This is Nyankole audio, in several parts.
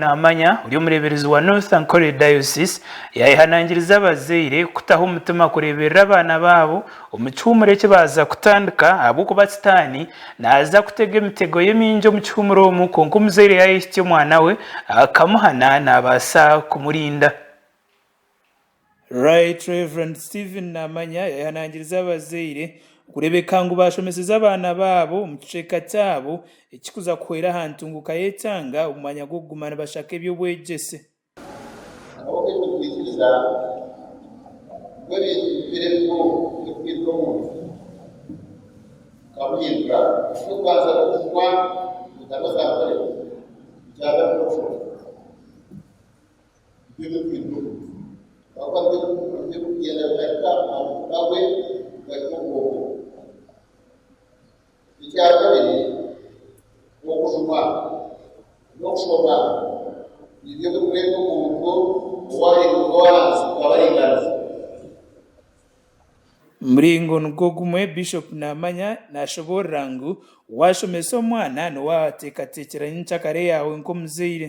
Naamanya ori omureeberezi wa North Ankole Diocese yaayehanangiriza abazaire kutaho omutima kureeberera abaana baabo omu kihuumuro eki baaza kutandika ahabw'okuba sitaani naaza kutega emitego ye mingi omu kihuumuro omu kwonka omuzaire yaayehitsya omwana we akamuhana naabaasa kumurinda. Right Rev. Stephen Namanya yahanangirize abazaire kureebeka ngu baashomeseze abaana baabo omu kicweka kyabo ekirikuza kuhwera aha ntunguka y'ekyanga omu mwanya gw'okuguma nibashaka eby'obwegyese. Ahabw'okuteekateekiriza ngu ebintu bihwere bimwe ebirikureetera omuntu kukabuhindura, eky'okubanza n'okuhwa omu ntaro zaakoreka, ekya kabiri n'okushoma. Muringo nigwo gumwe Bishop Namanya nashoboorora ngu waashomesa omwana niwe ateekateekyera nyencakare yaawe nk'omuzaire.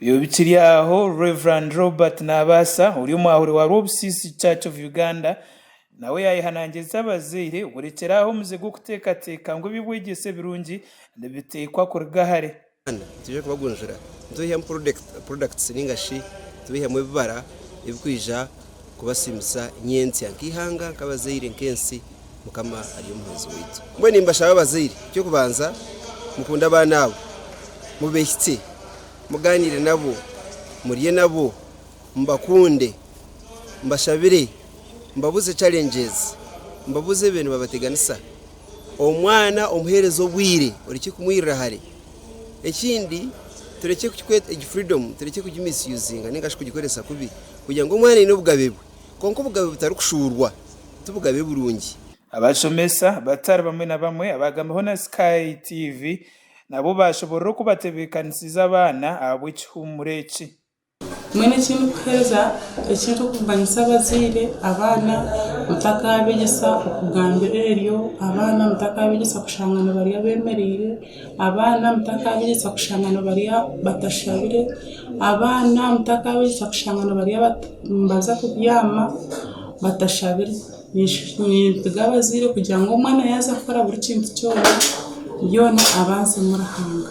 Byo bikiri aho Rev. Robert Nabaasa ori omwahuri wa Rwobusiisi Church of Uganda nawe yayehanangiriza abazaire kurekyera aho omuze gw'okuteekateeka ngu eby'obwegyese ebirungi nibiteekwa kuruga hare. Kandi twije kubagunjura nitubaihamu products ninga shi tubaihamu ebibara ebikwija kubasiimisa nyentsya nk'eihanga, nk'abazaire, nk'ensi. Mukama ari omuhabuzi waitu. Mbwenu nimbashaba abazaire, eky'okubanza mukunde abaana abo, mubehitsye, mugaaniire nabo, murye nabo. Mubakunde, mubashabire, mubabuze challenges, mubabuze ebi nibabateganisa. Omwana omuhereze obwire orekye kumwirira hare. Ekindi turekye kukikweta, egi freedom turekye kugi misusinga ninga shi kugikoresa kubi kugira ngu omwana aine obugabe bwe kwonka obugabe butarikushuurwa ti bugabe burungi. Abashomesa batari bamwe na bamwe abaagambireho na Sky TV nabo baashoboorora oku batebeekanisize abaana ahabw'ekihuumuro eki. Mbwenu eki ndikuheereza, eki ndikubaganisa abazaire, abaana mutakaabegyesa okugambira eryo, abaana mutakaabegyesa kushanga nibarya beemereire, abaana mutakaabegyesa kushanga nibarya batashabire, abaana mutakaabegyesa kushanga nibarya bata nibaza kubyama batashabire. Ninshi nindiga abazaire kugira ngu omwana yaaza kukora buri kintu kyona, byona abanze Ruhanga.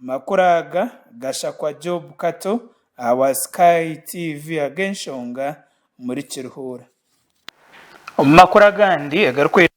Amakuru aga gashakwa Job Kato aha wa Sky TV ag'enshonga omuri Kirihuura. Omu makuru agandi agarikwetwa